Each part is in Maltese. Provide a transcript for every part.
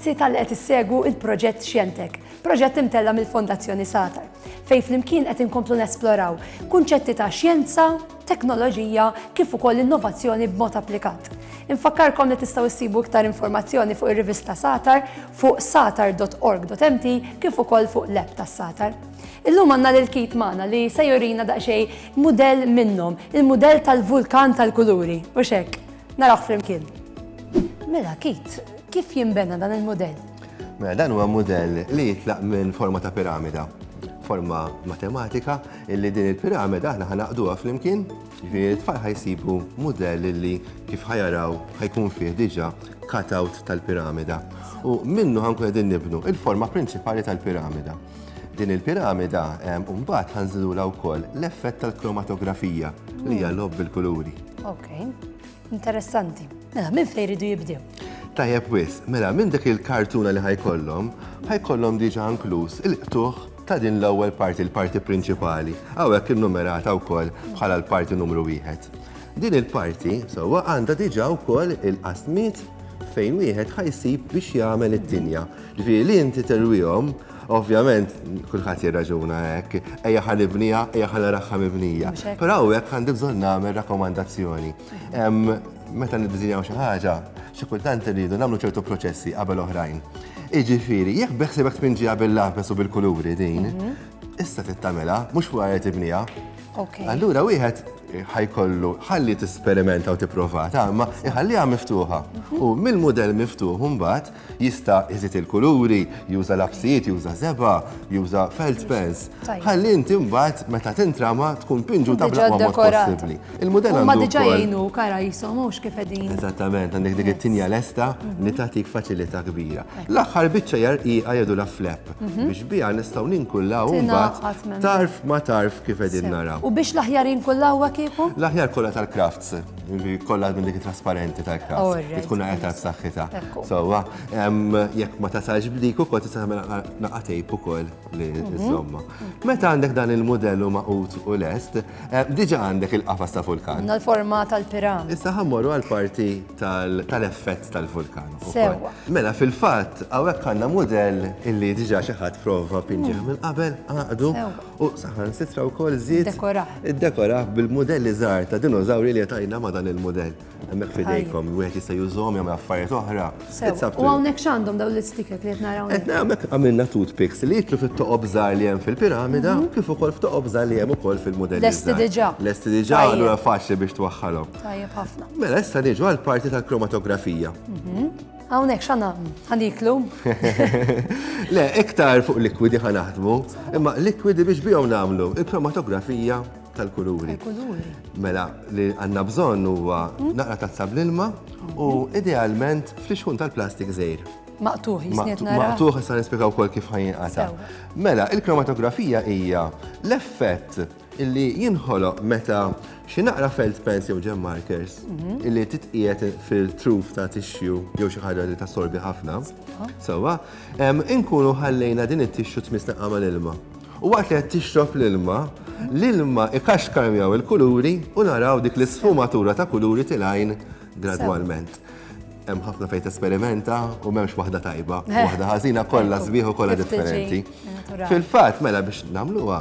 Grazzi tal qed issegwu il-proġett Xjentek, proġett imtella mill-Fondazzjoni Satar, fej flimkien qed inkomplu nesploraw kunċetti ta' xjenza, teknoloġija kif ukoll innovazzjoni b'mod applikat. Infakkarkom li tistgħu issibu iktar informazzjoni fuq ir-rivista Satar fuq satar.org.mt kif ukoll fuq l-app tas-Satar. Illum għandna lil Kit magħna li se jurina daqsxejn mudell minnhom, il-mudell tal-vulkan tal-kuluri, u x'hekk. Narawh flimkien. Mela Kit, kif jinbena dan il-mudell? Mela dan huwa mudell li jitlaq minn forma ta' piramida, forma matematika Illi din il-pirameda aħna ħa naqduha flimkien, jiġifieri t-tfal ħa jsibu mudell illi kif ħa jaraw ħa jkun fih diġà cut-out tal-pirameda. U minnu ħa nkunu qegħdin nibnu l-forma prinċipali tal-pirameda. Din il-pirameda mbagħad ħa nżidulha wkoll l-effett tal-kromatografija li hija logħob bil-kuluri. Interessanti. Mela, minn fejn iridu jibdew? Tajjeb wis, mela minn dik il-kartuna li ħajkollhom, ħajkollhom diġà inkluż il-qtuħ ta' din l-ewwel parti, l-parti prinċipali. Hawnhekk innumerata wkoll bħala l-parti numru wieħed. Din il-parti sewwa għandha diġà wkoll il-qasmiet fejn wieħed ħajsib biex jagħmel it-tinja. Ġifieri li inti terwihom Ovvjament, kulħadd jirraġuna hekk, ejja ħa nibniha, ejja ħa naraħħa mibnija. Però hawnhekk għandi bżonn nagħmel rakkomandazzjoni. Meta niddiżinjaw xi ħaġa, xi kultant irridu nagħmlu ċertu proċessi qabel oħrajn. Iġifieri, jekk beħsibek tpinġiha bil-lapes u bil-kuluri din, issa trid tagħmilha, mhux fuqha qed tibniha. Allura wieħed ħajkollu ħalli tisperimenta u tipprova tagħmel, iħalliha miftuħa. U mill-mudell miftuħ imbagħad Jista' iżid il-kuluri, juża lapsijiet, juża żebgħa, juża felt pens. Ħalli inti mbagħad meta tintrama tkun pinġuta bl-aqwa mod possibbli. Il-mudell għandu. Ma diġà jgħinu kara jisom mhux kif qegħdin. Eżattament, għandek dik it-tinja lesta li tagħtik faċilità kbira. L-aħħar biċċa hija rqiqa jgħidu la flap biex biha nistgħu ninkullaw mbagħad tarf ma tarf kif qegħdin naraw. U biex l-aħjar jinkullaw kieku? L-aħjar kollha tal-crafts. Kollha minn dik trasparenti tal-kras. Li tkun għetar b'saħħitha. Sewwa, jekk ma tasalx b'dik ukoll tista' tagħmel naqa' tejp ukoll li żomma. Meta għandek dan il-mudell u maqut u lest, diġà għandek il-qafas ta' vulkan. Għandna l-forma tal-piram. Issa ħammorru għall-parti tal-effett tal-vulkan. Sewwa. Mela fil-fatt hawnhekk għandna mudell illi diġà xi ħadd prova pinġieh minn qabel, għaqdu. U saħansitra wkoll żied Iddekorah. iddekorah bil-mudelli żgħar ta' dinożawri li għetajna ma' dan il-mudell. Hemmhekk f'idejkom, wieħed jista' jużhom jagħmel affarijiet oħra. Sew. It's up to U you. hawnhekk x'għandhom dawn l-isticker li qed nara hawnhekk? Etna għamek għamilna toothpicks li jitlu fit-toqob żgħar li hemm fil-piramida u kif ukoll f'toqob żgħar li hemm ukoll fil-mudelli Mhm. Lesti żgħar. diġà. Lesti diġà, Tajjeb. allura faċli biex twaħħalhom. Tajjeb ħafna. Mela issa niġu għall-parti tal-kromatografija. Hawnhekk xana ħaniklu. Le, iktar fuq likwidi ħanaħdmu, imma likwidi biex bihom nagħmlu il-kromatografija tal-kuluri. Mela, li għanna bżonn huwa hmm? naqra tazza bl-ilma u hmm? idealment flixħun tal-plastik żejr. Maqtuħ, jisniet nara. Maqtuħ, jistan nispiegaw kol kif ħajin għata. Mela, il-kromatografija hija l-effett illi jinħoloq meta xi naqra felt pens jew gem markers illi titqiegħed fil-truf ta' tixxu jew xi ħaġa li tassorbi ħafna, sewwa, inkunu ħallejna din it-tixxu tmissneqa mal-ilma. U waqt li qed tixrob l-ilma, l-ilma ikaxkar miegħu l-kuluri u naraw dik l-isfumatura ta' kuluri tilgħin gradwalment. Hemm ħafna fejn tesperimenta u m'hemmx waħda tajba, waħda ħażina, kollha sbieħ u kollha differenti. Fil-fatt, mela biex nagħmluha,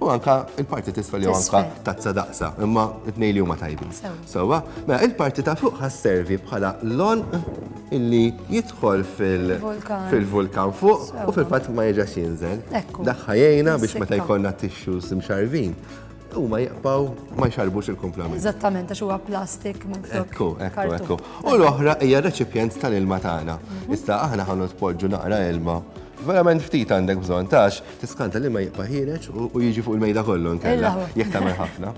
U anka il-parti tisfel jew anka tazza daqsa, imma it-nej li huma tajbin. Sewa, mela il-parti ta' fuq ħasservi bħala lon illi jidħol fil-vulkan fuq u fil-fatt ma jiġax jinżel. Daħħa jgħina biex meta jkollna tixxu simxarvin u ma jaqbaw ma jxarbux il-kumplament. Eżattament, għax huwa plastik minn fuq. Ekku, ekku, ekku. U l-oħra hija reċipjent tal-ilma tagħna. Mhm. Issa aħna ħannu tpoġġu naqra ilma verament ftit għandek bżon tax, Tiskanta li ma jibqa' ħiereġ u jiġi fuq il-mejda kollu nkella jekk tagħmel ħafna.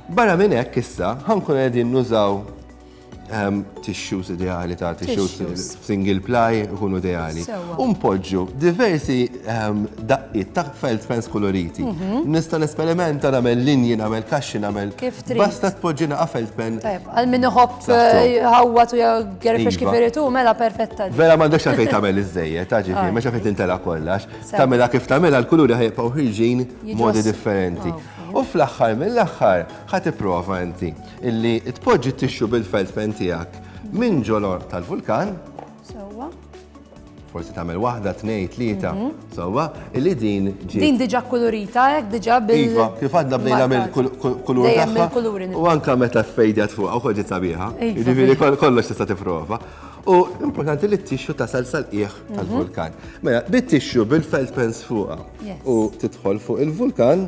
Barra minn hekk issa ħankun qegħdin nużaw ehm, tissues ideali ta' tissues single ply ikunu ideali. U npoġġu diversi ehm, daqqiet ta' felt pens koloriti. Mhm. Nista' nesperimenta nagħmel linji, nagħmel kaxxi, nagħmel. Kif trid. Basta tpoġġina qa' felt pen. Għal min iħobb eh, ħawwa tu gerfex kif irid mela perfetta. Vera m'għandekx għalfejn tagħmel iż-żejjed, ta' ġifieri, ma xafejn tintela kollox. Tagħmilha kif tagħmilha l-kuluri ħa jibqgħu ħirġin modi differenti. U fl-aħħar mill-aħħar ħa tipprova inti illi tpoġġi t-tixxu bil-felt pen tiegħek minn ġolor tal-vulkan. Sewwa. Forsi tagħmel waħda, tnejn, tlieta, mhm. sewwa, illi din ġi. Din diġà kulurita hekk diġà bil. Iva, kif għadna bdejna mill-kulur tagħha. U anke meta fejdjat fuq u ġiet sabiħa. Jiġifieri kollox tista' tipprova. U importanti li t-tixju tasal sal-qiegħ tal-vulkan. Mela, bi tixju bil-felt pens fuqha u tidħol fuq il-vulkan,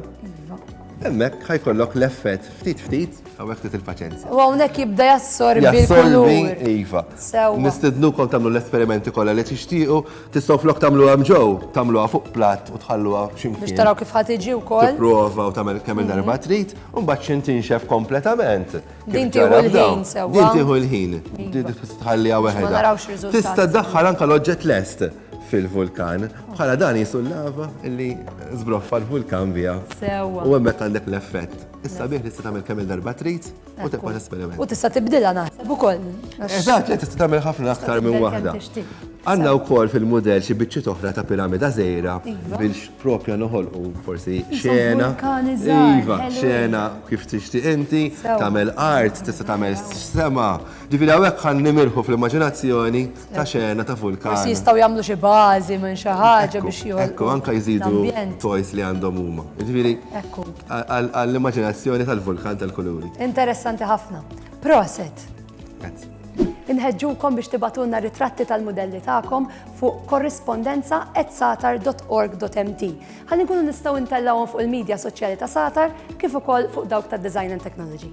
hemmhekk ħajkollok l-effett ftit ftit hawnhekk ftit il-paċenzja. U hawnhekk jibda jassorbi l-kulur. Jassorbi, iva. Sewwa. Nistednukom tagħmlu l-esperimenti kollha li tixtiequ, tistgħu flok tagħmluha hemm ġew, tagħmluha fuq platt u tħalluha xi mkien. Biex taraw kif ħa tiġi wkoll. Tipprova u tagħmel kemm-il darba trid, u mbagħad x'intinxef kompletament. Din tieħu l-ħin sewwa. Din tieħu l-ħin. Iva. Tħallija weħedha. Tista' ddaħħal anke l-oġġett lest fil-vulkan. Bħala dan jisu l-lava li zbroffa l-vulkan via. Sewa. U għemmek għandek l-effett. Issa bieħ tista' tagħmel kemm il-darba trid u tibqa' l-esperiment. U tista' tibdilha naħseb ukoll. Eżatt, li tista' tagħmel ħafna aktar minn waħda. Għandna wkoll fil-mudell xi biċċiet oħra ta' piramida żejra iva. biex propja noħolqu forsi xena. Iva, xena kif tixtieq inti, tagħmel art, tista' tagħmel sema. Ġifieri hawnhekk ħan nimirħu fl-immaġinazzjoni ta' xena ta' vulkan. Forsi jistgħu jagħmlu xi bażi minn xi ħaġa biex joħolqu. Ekku, anke jżidu toys li għandhom huma. Ġifieri għall-immaġinazzjoni tal-vulkan tal-kuluri. Interessanti ħafna. Proset! Inħeġġukom biex tibatulna ritratti tal-mudelli tagħkom fuq korrispondenza@satar.org.mt ħalli nkunu nistgħu ntellgħuhom fuq il-media soċjali ta' Satar kif ukoll fuq dawk ta' Design and Technology.